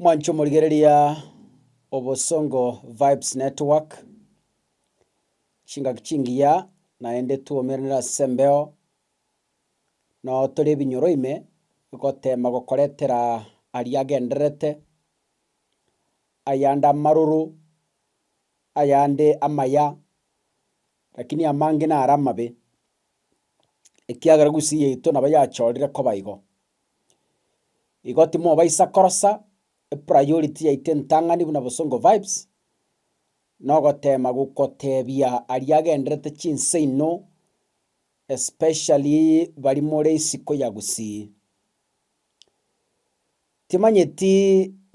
Mwanche omorigereria obosongo vibes network chingaki chingiya naende twoumeranire ase embeo noo tore ebinyoro ime gotema gokoretera aria agendererete ayande amaroro ayande amaya lakini amange nare amabe ekiagera gusii yaito nabo yachorire koba igo. Igo timobaisa korosa epriority yaito entang'ani buna Bosongo Vibes, na ogotema gokotebia aria agenderete chinse inwe, especially bari more isiko ya Gusii. Timanyeti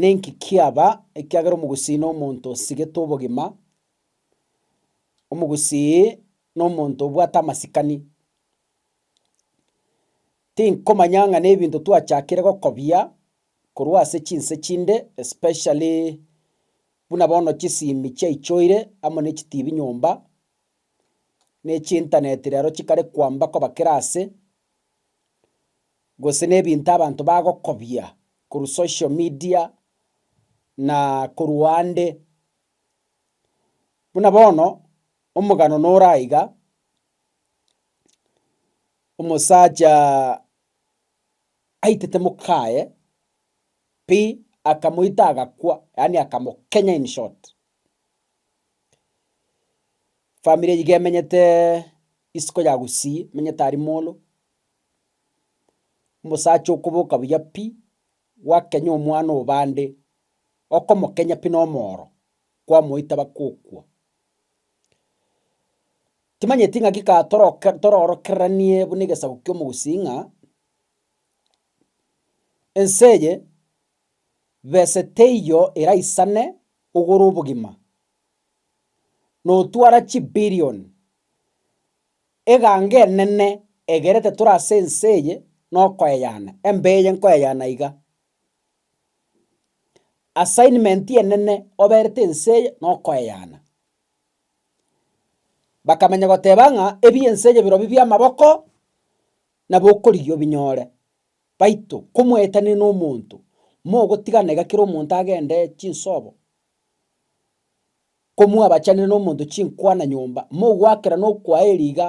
ninki kiaba ekiagera Omogusii na omonto osigete obogima, Omogusii na omonto obwate amasikani. Tinkomanya ng'a nebinto twachakire gokobia korwa ase chinse chinde especially buna bono chisimi chiaichoire amo ne chitibi nyomba, ne chintaneti rero chikare kwamba koba kera ase, gose nebinto abanto bagokobia korwa social media na korwa ande. Buna bono omogano nore aiga. Omosacha aitete mokaye pi akamoita agakwa yaani akamokenya in short. Family iga emenyete isiko ya Gusii emenyete aria molo, omosacha okoboka buya pi gwakenya omwana obande, okomokenya pi na omoro kwamoita bakokwa. Timanyeti ng'aki ka toroke toroorokeranie buna egesaku ki'omogusii ng'a, ense eye bese teiyo eraisane ogora obogima, na otwara chibillion eganga enene egerete tore ase ense eye na okoeyana, embeyo nkoeyana iga. Assignment enene oberete ense eye nokoeyana. Bakamanya goteba ng'a ebi'ense eye birobio bi'amaboko, nabo okorigia obinyore. Baito komoetania na omonto, mogotigana iga kera omonto agende chinsobo, komwabachanera na omonto chinkwana nyomba, mogoakerana okwaeri iga.